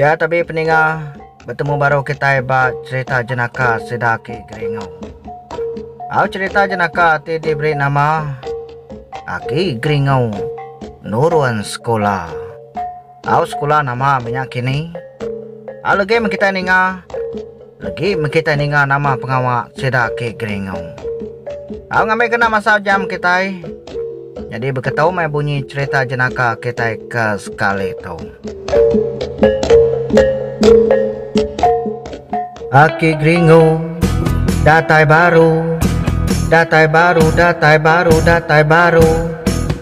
Ya tabi peninga betemu baru kitai ba cerita jenaka sida aki Geringo. Au cerita jenaka ti diberi nama Aki Geringo Nurun Sekula. Au sekula nama menya kini? Au legi meh kitai ninga Agi meh kitai ninga nama pengawa sida ke Geringau. Tau ngambi kena masa ujang kitai. Nyadi beketu meh bunyi cherita jenaka kitai ke sekali tu. Aki Geringu datai baru, datai baru, datai baru, datai baru.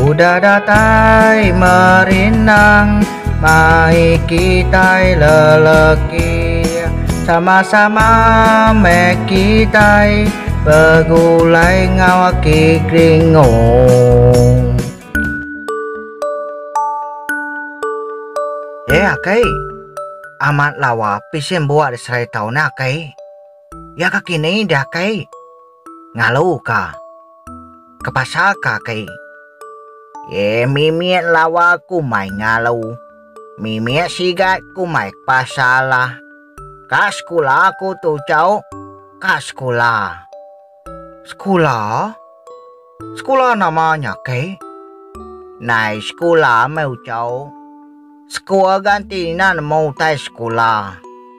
Udah datai merindang mai kitai lelaki sama-sama meh kitai begulai enggau aki kringong. Eh akai, amat lawa pisen buah diserai tau ne akai. Ya ka kini deh akai. Ngalu ka. Kepasal ka kai. Ye mimit lawa kumai ngalu. Mimit sigat kumai kepasal lah. Ka sekula aku tu chau. Ka sekula. Sekula? Sekula nama nya kai? Nai sekula meh uchau. Sekua ganti ina nemu utai sekula.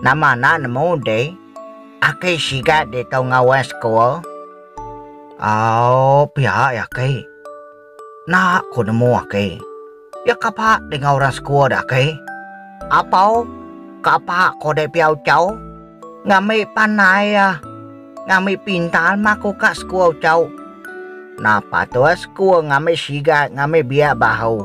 Nama enda nemu deh. Aki sigat ditu ngawas sekul. Au pia iya aki. Enda ku nemu aki. Iya ke apa dengan orang sekul deh aki. Apau ke apa ko deh pia ucau. Ngambi pandai iya. Ngambi pintar mah ko ka sekul ucau. Napa tu sekul ngambi sigat ngambi biak bahu.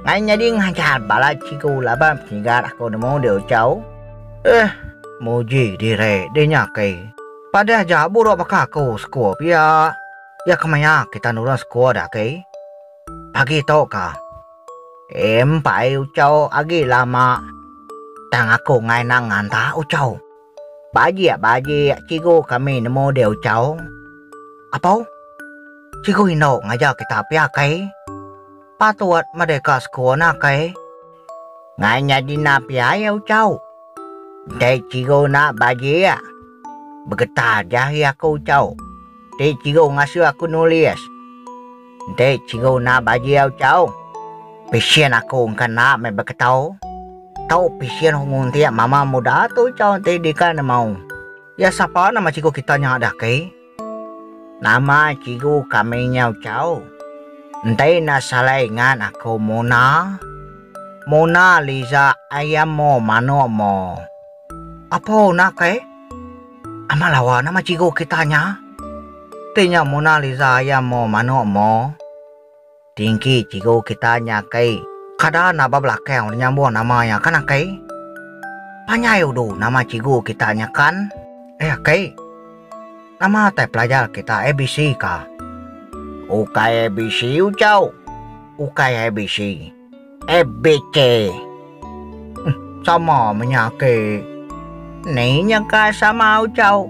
Ngai nyadi ngajar bala cikgu laban penyigat aku nemu dia ucau. Eh, muji diri deh nya ke. Padah aja buruk baka aku sekua pia. Ya kemaya kita nurun sekua dah ke. Pagi tu ka. Empai ucau agi lama tang aku ngai nang nganta ucau. Bajik-bajik cikgu kami nemu deh Uchao. Apo? Cikgu indu ngajar kita pia kai? Patut meda ka sekul nah kai? Ngai nyadi nah pia iya Uchao. Enti cikgu nah bajik. Begetar jahi aku Uchao. Ti cikgu ngasuh aku nulis. Enti cikgu enda bajau chau, pisen aku engka enda meh beketau. Tau pisen aku nguntik mama muda tu chau enti deka nemau iya sapa nama cikgu kita nya deh kai. Nama cikgu kami nyau chau. Enti enda salah ingat aku Mona. Mona Liza Ayam mo Manok mo. Apo una kai? Amat lawa nama cikgu kita nya. Ti nya Mona Lisa iya mo manok mo. Tingki cikgu kita nya kei kada enda ba belakang udah nyambung nama iya kan akei. Panjai udu nama cikgu kita nya kan. Eh akei. Nama tai pelajar kita ABC ka. Ukai ABC ucau. Ukai ABC. Abk. Uhm sama menya ake. Ni nya ka sama ucau.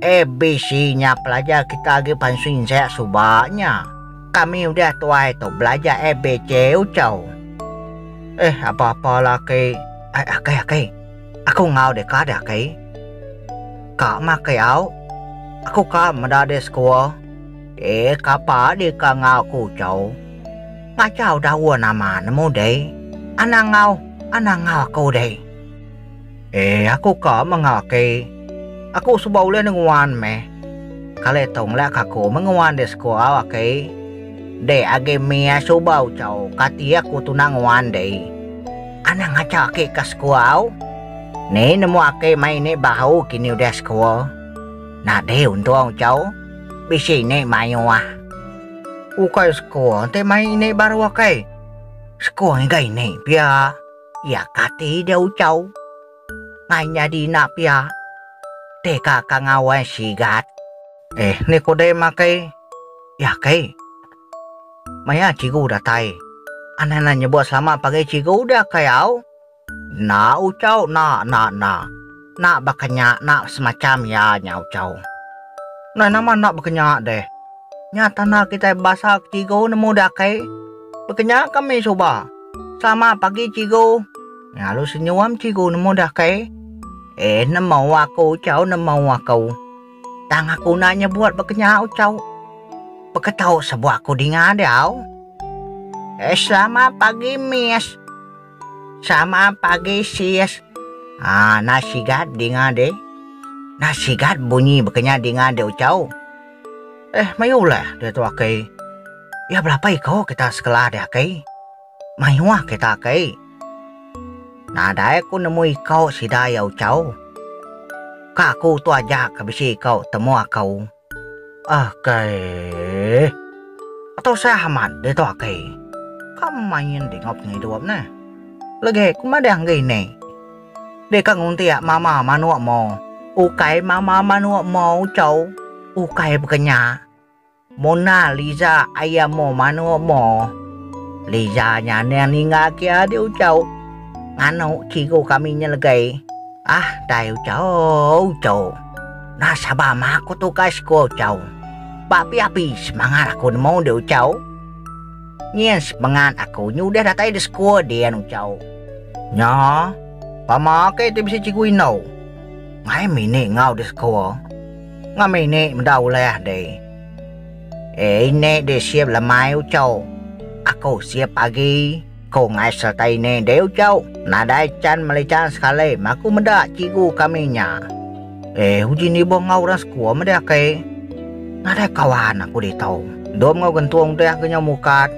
Abc nya pelajar kita agi pansui ensek suba nya. Kami udah tuai tu belajar abc ucau. Eh apa apa la ake. Ai ake ake. Aku enggau deka deh ake. Ka meh ake au. Aku ka meda deh sekua. Eh kapa deka enggau aku ucau. Ngachau daun ama nemu deh. Anang ngau anang ngau aku deh. Eh aku ka mengau aki. Aku suba ulih nenguan meh. Kali tu ngelak ka aku menguan di sekuau aki. Dek agi mia suba ucau kati aku tunang nguan deh. Anang ngachau aki ka sekuau. Ni nemu aki mai ni bahu kini udah sekua. Nadeh untung ucau. Bisi ni mayuh. Ukai sekua enti mai ini baru akai. Sekua ngiga ini pia. Iya kati dia uchau. Ngai nyadi ina pia. Ti ka ka ngawai sigat. Eh ni ku deh makai. Iya kai. Maya cikgu datai. Anang enda nyebut selamat pagi cikgu dia kai au. Enda uchau enda enda enda. Enda baka nya enda semacham iya nya uchau. Nah nama enda baka nya deh. Nya tanda kitai bebasa ke cikgu nemu deh akai. Baka nya kami suba. Selamat pagi cikgu. Nya lalu senyuam cikgu nemu deh akai. Eh nemu aku uchau nemu aku. Tang aku enda nyebut baka nya uchau. Baka tau sebut aku dinga diau. Eh selamat pagi miss. Selamat pagi sis. Haa nah sigat dinga deh. Nah sigat bunyi bekenya dinga deh ucau. Eh mayuh uleh deh tu akei. Iya belapa iko kita sekela deh akei. Mayuh kita akei. Nadai aku nemu iko sida iya ucau. Ka aku tu aja ke bisi iko temu akau. Akai. Atau sah amat deh tu akai. Ka main deh ngau pengai idup neh. Legek ku madang gai neh. Deh ka nguntiak mama manuk mo. Ukai mama manuk mo ucau. Ukai bekenya. Mona Liza ayam mo manuk mo. Liza nyanding ninga ki adi ucau. Nganu cikgu kami nyelegei. Ah dai ucau ucau. Nasaba meh aku tukai sekul, Chau. Ba api api semangat aku nemu deh Chau. Nyin sepengat aku nyudah datai deh sekul din Chau. Nya, pama ake ti bisi cikgu indau. Mai mini enggau deh sekul. Enggau mini meda ulah deh. Ei nek deh sip lemai Chau. Aku sip agi. Ko ngai sereta ini deh ucau, nadai can melican sekali maku meda cikgu kami nya. Eh uji ni boh enggau orang sekua meh deh ake. Nadai kawan aku ditu. Endur enggau gentung deh aku nyau mukat.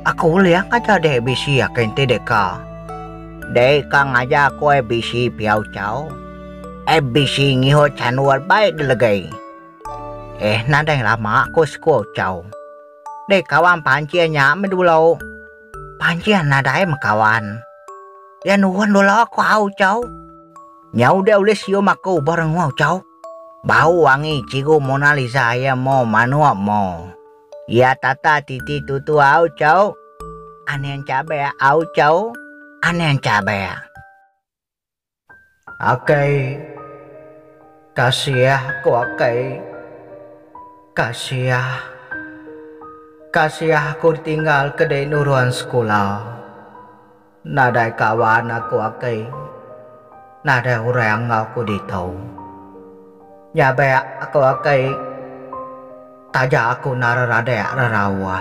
Aku ulih ngajar deh ABC ake enti deh ka. Deh ka ngajar aku ABC pia ucau. ABC ngiho chandu albai delegai. Eh nadai lama ko sekua ucau. Deh kawan pancing nya meh dulu. Pancing nadai meh kawan. Iya nuhun dulu ku au chau. Nya udah ulih sium aku ba rengau chau. Bau wangi cigu Mona Lisa iya mo manuk mo. Iya tata titi tutu au chau. Aning cabek au chau. Aning cabek. Akai kasiah ko akai kasiah kasiah ko ditinggal ke dei nurun sekula nadai kawan aku akai nadai orang enggau aku ditu nyabek ko akai taja aku enda reradek rerauh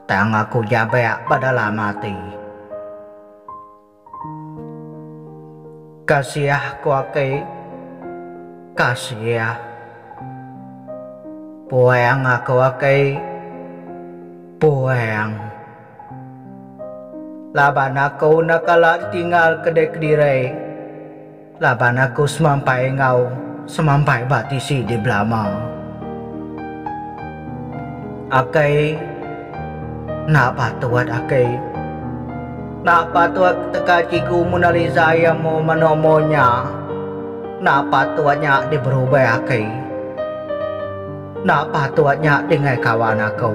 tang aku nyabek ba dalam ati. Kasiah ku aki, kasiah. Puang aku aki, puang. Laban aku enda kala ditinggal ke diri kediri. Laban aku semampai enggau semampai ba tisi di belama. Akai enda patut akai. Enda patut teka cikgu Mona Lisa iya mu mano mu nya. Enda patut nya di berubai akai. Enda patut nya di ngai kawan aku.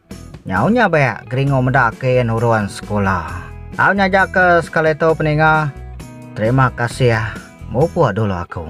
Nyau nya bek Gringo meda ke nurun sekula. Tau nyaja ke sekali tu peninga. Terima kasih mupuk dulu aku.